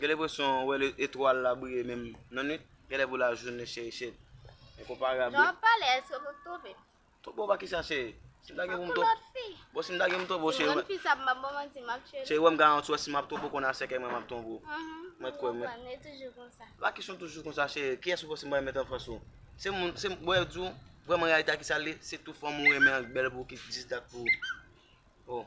Gen lenpresyon ou wè etwal la briye menm nan nwit, genlè pou lajounen cheri chet. Enkonparab wi. Lè wap pale eske map twonpe? Twonpe w pa kisa cheri? Si m ta gen pou m twonpe w. Tankou lòt fi. Bon si m ta gen pou m twonpe w cheri. Yon fi sa ap map ban manti map tchwe'l. Cheri wè m garanti w si map twonpe w konn a sèkèy mwen map twonpe w. Mwen kwè mwen. Mwen toujou konsa. Pa kesyon toujou konsa cheri, kiyès ou panse mwen met anfans ou? Se moun, se bon yo di w vrèman reyalite a kisa l ye, se tou fanm ou renmen an k bèl pou w ki jis dat pou ou. Oh.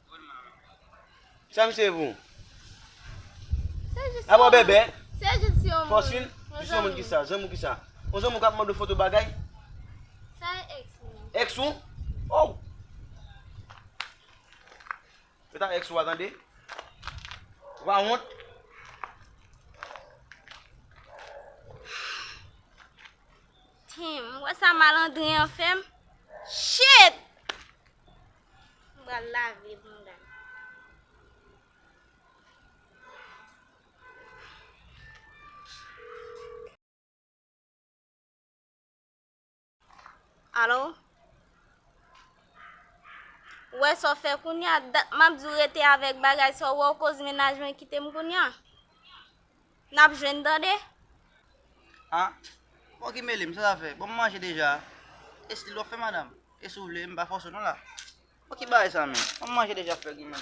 Sa misye vou? Ap wè bèbè? Se jis si yon moun. Fòswil? Jis yon moun ki sa? Zanmi w ki sa? Yon zanmi w k ap mande w foto bagay? Sa e ex mwen. Ex ou? Ow! Se ta ex ou a tande? Ou pa wont? Tim, ou wè sa malandren an fè m? Shit! M pral lave bounda m. Alo? Ou wè sa w fè kounye a? Dat m ap di w rete avèk bagay sa w wè w koz mennaj mwen kite m kounye a? Nap jwenn tande. Ah bon ki melem sa sa fè bon m manje deja estil wap fè madam e si w vle m pa fòse w non la bon ki bagay sa menm bon m manje deja frè ginen.